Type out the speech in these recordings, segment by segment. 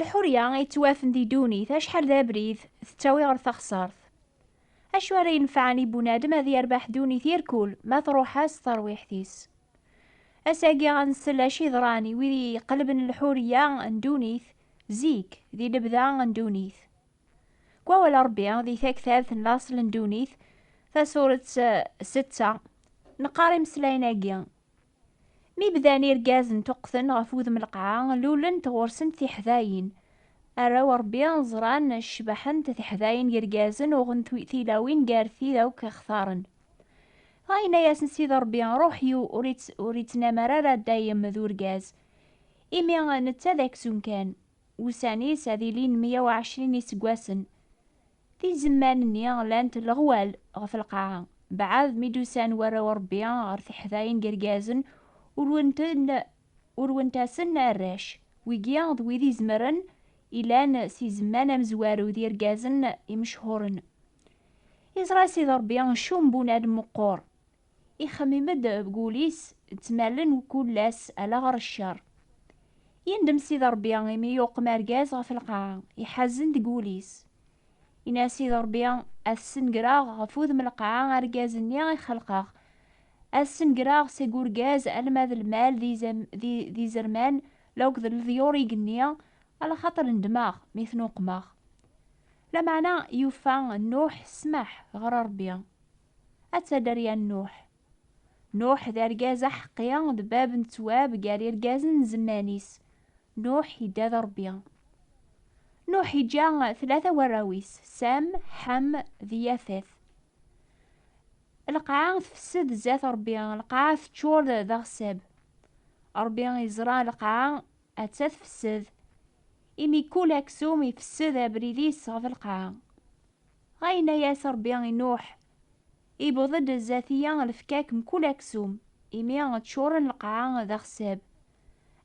Lḥurya ay ttwafen di ddunit acḥal d abrid tettawi ɣer taxsart. Acu ara yenfɛen i bunadem ad yerbeḥ ddunit irkul ma truḥ-as terwiḥt-is. Asagi ad nsel acu yeḍran i wid yeqleben lḥurya n ddunit zik di lebda n ddunit. Deg wawal n Ṛebbi, di taktart n laṣel n ddunit, tasuret setta, neqqar imeslayen-agi, Mi bdan irgazen ṭuqqten ɣef wudem n lqaɛa, lulent ɣur-sent tiḥdayin. Arraw n Ṛebbi ẓran, cebḥent tiḥdayin n yirgazen, uɣen tilawin gar tid akk i xtaren. Dɣa yenna-yasen Sidi Ṛebbi, Ṛuḥ-iw ur ittnamar ara dayem d urgaz, imi netta d aksum kan. Ussan-is ad ilin meyya u ɛecrin iseggasen. Tizemman-nni lant leɣwal ɣef lqaɛa. Beɛɛed mi d-usan warraw n Rebbi ɣer teḥdayin n yirgazen, urwen-ten, urwent-asen arrac. Wigi d wid izemren, ilan s izemman amezwaru d yirgazen imechhuren. Iẓra Sidi Rebbi ccumbunal meqqur, Ixemmim-d deg wul-is d tmerlen n kullas ala ɣer ccer. Yendem Sidi Ṛebbi imi yuqem argaz ɣef lqaɛa, iḥazen deg wul-is. Yenna Sidi Ṛebbi, Ad t-snegreɣ ɣef wudem lqaɛa argaz-nni i xelqeɣ. Ad snegreɣ seg urgaz alma d lmal d izerman la akked leḍyur igenni, alaxaṭer nedmeɣ mi ten-uqmeɣ. Lameɛna yufa Nuḥ ssmaḥ ɣer Ṛebbi. ad tader ya Nuḥ. Nuḥ d argaz aḥeqqi, d bab n ttwab gar irgazen n zemman-is. Nuḥ idda d Ṛebbi. Nuḥ iǧǧa tlata warraw-is, Sem, Ḥam d Yafet. Lqaɛa tfessed zzat Ṛebbi, lqaɛa teččur d aɣsab. Ṛebbi iẓra lqaɛa atta tfessed, imi kul aksum ifessed abrid-is ɣef lqaɛa. Ɣayenna-yas Ṛebbi i Nuḥ, Iwweḍ-d zdat-i-ya lefkak mkul aksum, imi ččuren lqaɛa d axessab.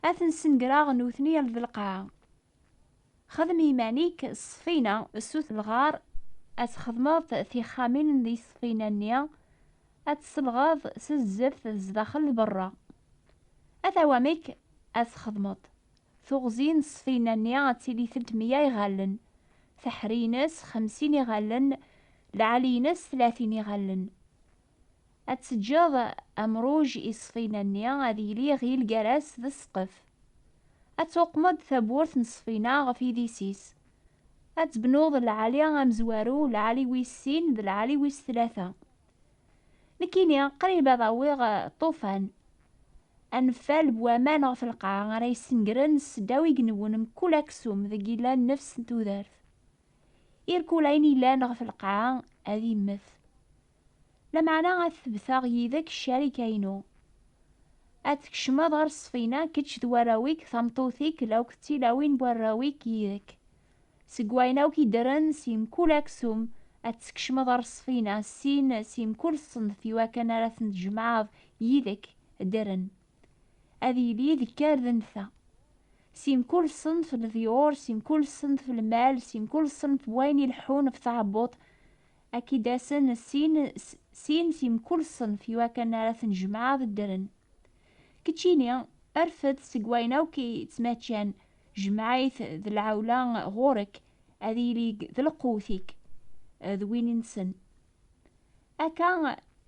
Ad ten-snegreɣ nutni al d lqaɛa. Xdem i yiman-ik ṣṣfina, sut lɣar, ad txedmeḍ tixxamin di ṣṣfina-nni, ad tt-selɣeḍ s zzeft zdaxel d beṛṛa. Ata wamek ad txedmeḍ, Tuɣzi n ssfina-nni ad tili tent mya iɣallen, taḥri-ines xemsin iɣallen, lɛali-ines tlatin iɣallen. Ad teǧǧeḍ amruj i ssfina-nni ad yili iɣil gar-as d ssqef. Ad tuqmeḍ tawwurt n ssfina ɣef idis-is. Ad tebnuḍ lɛali amezwaru, lɛali wis sin d lɛali wis tlata. Nekkini qrib ad awiɣ ṭṭufan. Anfal n waman ɣef lqaɛa ara yessengren s ddaw igenwen mkul aksum deg yellan nnefs n tudert. Irkul ayen yellan ɣef lqaɛa ad immet. Lameɛna ad tebteɣ yid-k ccarika-inu. Ad tkecmeḍ ɣer ṣṣfina kečč d warraw-ik, tameṭṭut-ik, lawk d tilawin n warraw-ik yid-k. Seg wayen akk i ddren si mkul aksum, ad teskecmeḍ areṣṣfi-na, sin, si mkul ṣṣenf i wakken ara ten-tjemɛeḍ yid-k, ddren. Ad yili deg karden ta. Si mkul ṣṣenf leḍyur, si mkul ṣṣenf lmal, si mkul ṣṣenf wayen ileḥḥun ɣef tɛebbuḍt, ad k-id-asen sin, sin si mkul ṣṣenf i wakken ara ten-tjemɛeḍ, ddren. Keččini, rfed seg wayen akk i ttmaččan, Jmeɛ-it d lɛewla ɣur-k, ad ilig d lqewt-ik d win-nsen. Akka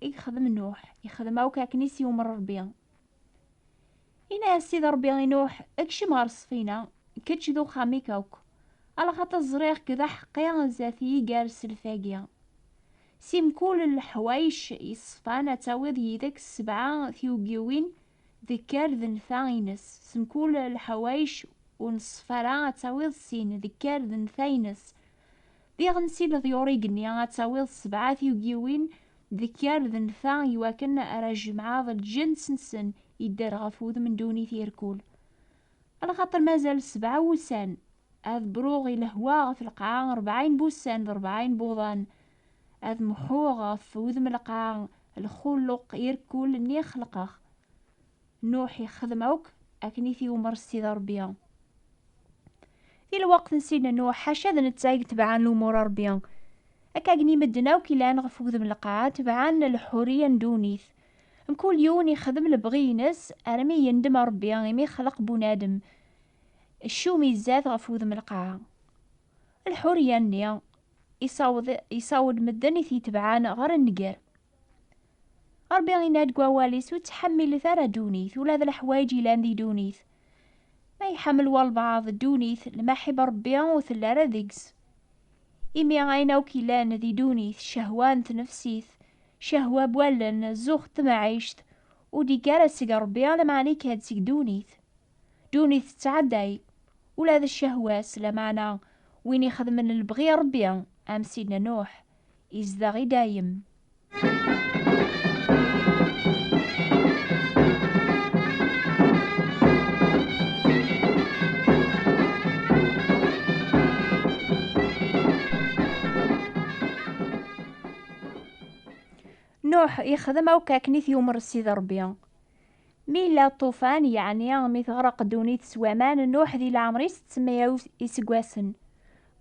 i yexdem Nuḥ, yexdem akk akken i s-yumer Ṛebbi. Yenna-yas Sidi Ṛebbi i Nuḥ, Kcem ɣer ṣṣfina, kečč d uxxam-ik akk, alaxaṭer ẓriɣ-k d aḥeqqi zdat yiger self-agi. Si mkul leḥwayec yeṣṣfan ad tawiḍ yid-k sebɛa tyuggiwin Dekker d nfa ines, s mkul leḥwayeč ur neṣṣef ara ad tawiḍ sin, dekker d nfa ines. Diɣen si leḍyur igenni ad tawiḍ sebɛa tyugiwin, dekker d nfa iwakken ara jemɛeḍ lǧens nsen idder ɣef wudem n ddunit irkul. Lxaṭer mazal sebɛa wussan, ad bruɣ i lehwa ɣef lqaɛa rebɛin n wussan d rebɛin n wuḍan, Ad mḥuɣ ɣef wudem lqaɛ lxuluq irkul nni i xelqeɣ. Nuḥ ixxedem akk akken i t-iwmer Ssid Ṛebbi. Di lweqt n Sidna Nuḥ, ḥaca d netta i yetebɛen lumuṛ Ṛebbi. Akkagen i medden akk ilan ɣef wudem lqaɛ, tebɛen lḥuriya n ddunit. Mkul yiwen ixdem lebɣi-ines armi yendem Ṛebbi imi ixleq bunadem. Ccum izad ɣef wudem lqaɛ. Lḥuriya-nni isaweḍ, isaweḍ medden i t-yetebɛan ɣer nnger. Rebbi inna-d deg wawal-is, ur ttḥammilet ara ddunit, ula d leḥwayeǧ yellan di ddunit. Ma iḥemmel walbaɛḍ ddunit, lmaḥib n Rebbi ur telli ara deg-s. Imi ayen akk yellan di ddunit, ccehwa n tnefsit, ccehwa n wallen, zzux n temɛict, ur d-yekki ara seg Rebbi, lameɛna yekka-d seg ddunit. Ddunit tettɛedday, ula d ccehwa-s, lameɛna win ixedmen lebɣi n Ṛebbi, am Sidna Nuḥ, izdeɣ i dayem. Nuḥ ixdem akk akken i t-yumeṛ Sidi Ṛebbi. Mi yella ṭṭufan, yeɛni mi teɣreq ddunit s waman, Nuḥ di leɛmer-is d tmeyaw iseggasen.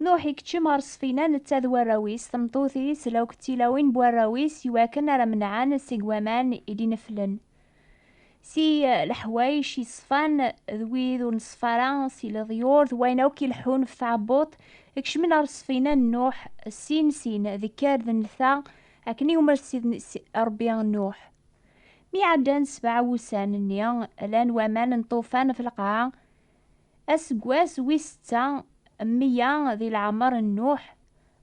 Nuḥ ikeččem ɣer ssfina netta d warraw-is, tmeṭṭut-is la akked tilawin n warraw-is i wakken ara menɛen seg waman i d-ineflen. Si leḥwayec yeṣfan d wid ur neṣfa ara, si leḍyur d wayen akk ileḥḥun ɣef tɛebbuḍt, kecmen ɣer ssfina n Nuḥ sin sin, d kker d nnta, akken i umer Rebbi Nuḥ. Mi ɛeddan sebɛa wussan-nni, rran waman n ṭṭufan ɣef lqaɛa. Aseggas wis setta n meyya di leɛmer n Nuḥ,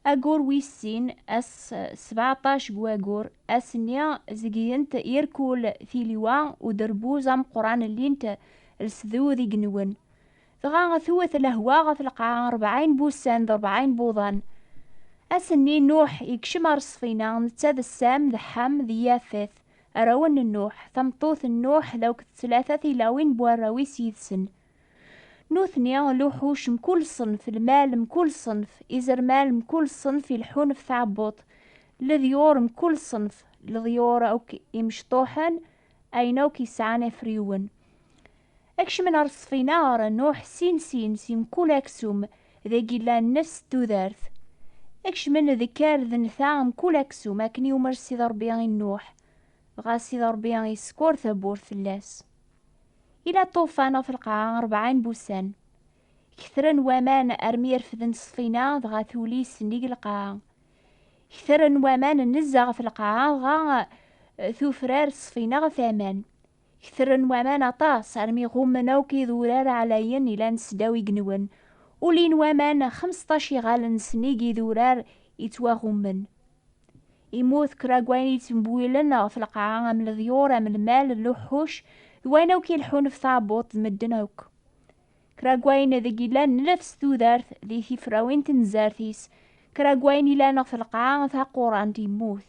ayyur wis sin, ass sbeɛṭac n wayyur, ass-nni zeggen-t irkul tiliwa uderbuz ameqqran llin-t lsdud igenwen. Dɣa twet lehwa ɣef lqaɛa rebɛin n wussan d rebɛin n wuḍan. Ass-nni, Nuḥ yekcem ɣer ṣṣfina, netta d Sam d Ḥam d Yafet, arraw n Nuḥ, tameṭṭut n Nuḥ d akked tlata tilawin n warraw-is yid-sen. Nutni, luḥuc mkul ṣṣenf, lmal mkul ṣṣenf, izerman mkul ṣṣenf ileḥḥun ɣef tɛebbuḍt, leḍyur mkul ṣṣenf, leḍyur akk imecṭuḥen, ayen akk yesɛan afriwen. Ad kecmen ɣer ṣṣfina, ɣer Nuḥ, sin sin, si mkul aksum, dagi llan nefs n tudert. Ad kecmen deg kar d nta mkul aksum, akken yumer Ssid Ṛebbi i Nuḥ, dɣa Ssid Ṛebbi isekkur tawwurt fell-as. Ila ṭṭufan ɣef lqaɛa ṛebɛin n wussan. Ketren waman armi refden ṣṣfina, dɣa tuli sennig lqaɛa. Ketren waman nezzeh ɣef lqaɛa, dɣa tufrar ṣṣfina ɣef aman. Ketren waman aṭas armi ɣummen akk idurar ɛlayen ilan sdaw igenwen. Ulin waman xemseṭṭac iɣallen sennig idurar ittwaɣummen. Immut kra n wayen yettembwilen ɣef lqaɛa am leḍyur, am lmal, luḥuc, d wayen akk ileḥḥun ɣef tɛebbuḍt d medden akk. Kra n wayen deg yellan nnef s tudert di tifrawin tenzart-is, kra n wayen ilan ɣef lqaɛa taquṛant immut.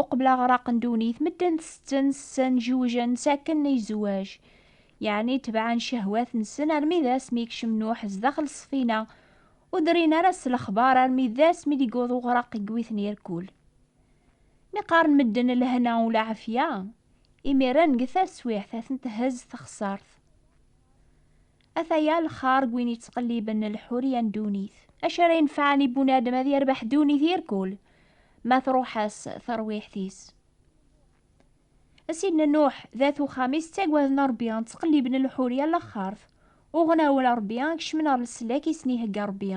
Uqbel aɣraq n ddunit, medden ttetten, ssen, jewjen, sakken i zzwaj. Yeɛni tebɛen ccehwat-nsen armi d asmi i yekcem Nuḥ zdaxel ssfina, ur drin ara s lexbar armi d asmi d-yewweḍ uɣraq i yewwiten irkul. Mi qqaren medden lehna u lɛafya, imiren deg taswiɛt a ten-thezz texsart. Ataya lxar n win yettqelliben lḥuriya n ddunit. Acu ara yenfɛen i bunadem ad yerbeḥ ddunit irkul ma truḥ-as terwiḥt-is? A Sidna Nuḥ d at uxxam-is ttagaden Rebbi, ttqelliben lḥuriya n laxxart, uɣen awal Rebbi, kecmen ɣer leslak i sen-ihegga Rebbi.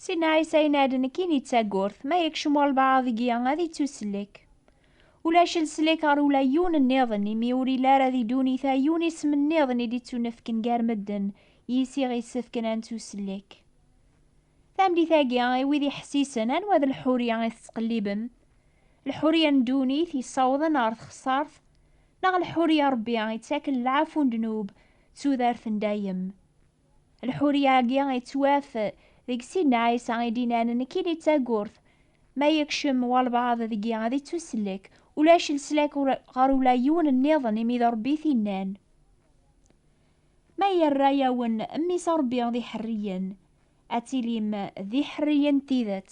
Sinna Ɛisa yenna-d, Nekkini d tagurt, ma yekcem walbaɛḍ deg-i, ad ittuslek. Ulac leslek ɣer ula yiwen nniḍen, imi ur yelli ara di ddunit-a yiwen isem nniḍen i d-ittunefken gar medden, yis i ɣ-issefken ad nettuslek. Tameddit-agi, i wid iḥessisen, anwa d lḥuriya i tettqellibem? Lḥuriya n ddunit, yessawḍen ɣer txessart, neɣ lḥuriya n Rebbi, yettaken lɛafu n ddnub d tudert n dayem? Lḥuriya-agi yettwaf deg Sidna Ɛisa i d-inan nekkini d tagurt, ma yekcem walbaɛḍ deg-i ad ittuslek, ulac leslak ɣer ula yiwen nniḍen imi d Ṛebbi i t-inan. Ma yerra-yawen Mmi-s Ṛebbi d iḥerriyen, ad tilim d iḥerriyen n tidet.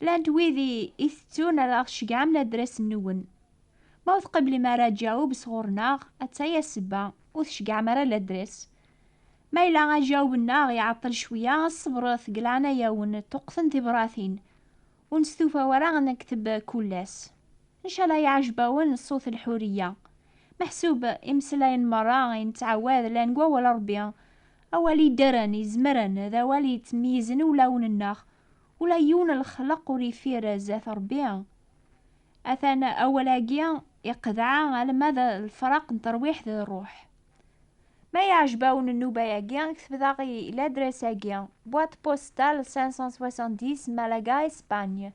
Llant wid i itettun ad aɣ-ceggɛemen adras-nwen. Ma ur tqeblem ara aǧaweb sɣur-neɣ, atta ya ssebba, ur tceggɛem ara ladras. Ma yella aǧaweb-nneɣ iɛeṭṭel cwiya, ṣebret deg leɛnaya-wen, ṭṭuqten tibratin. Ur nestufa ara ad nekteb kull ass. Ncala iɛjeb-awen ṣṣut Lḥuriya. Meḥsub imeslayen merra i nettɛawad llan deg Wawal n Rebbi. Awal yeddren, izemren, d awal yettmeyyizen i wulawen-nneɣ. Ula yiwen lexleq ur ifir zdat Ṛebbi. Atan awal-agi iqedɛa alma d lefraq n terwiḥt d ṛṛuḥ. Ma yeɛjeb-awen nnuba-agi, ktbet aɣ i ladres-agi, Boîte postale 570 Malaga, Espagne,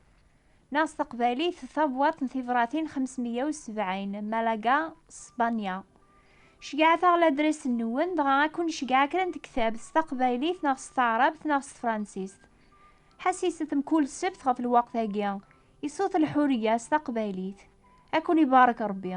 neɣ s teqbaylit Tabwaḍt n tibṛatin 570 Malaga, Spanya. Ceyyɛet-aɣ ladres-nwen, dɣa ad ken-nceyyɛ kra n tektabt s taqbaylit neɣ s taɛrabt neɣ s tefransist. Ḥassiset mkul ssebt ɣef lweqt-agi, i Sut Lḥuriya s taqbaylit. Ad ken-ibarek Rebbi.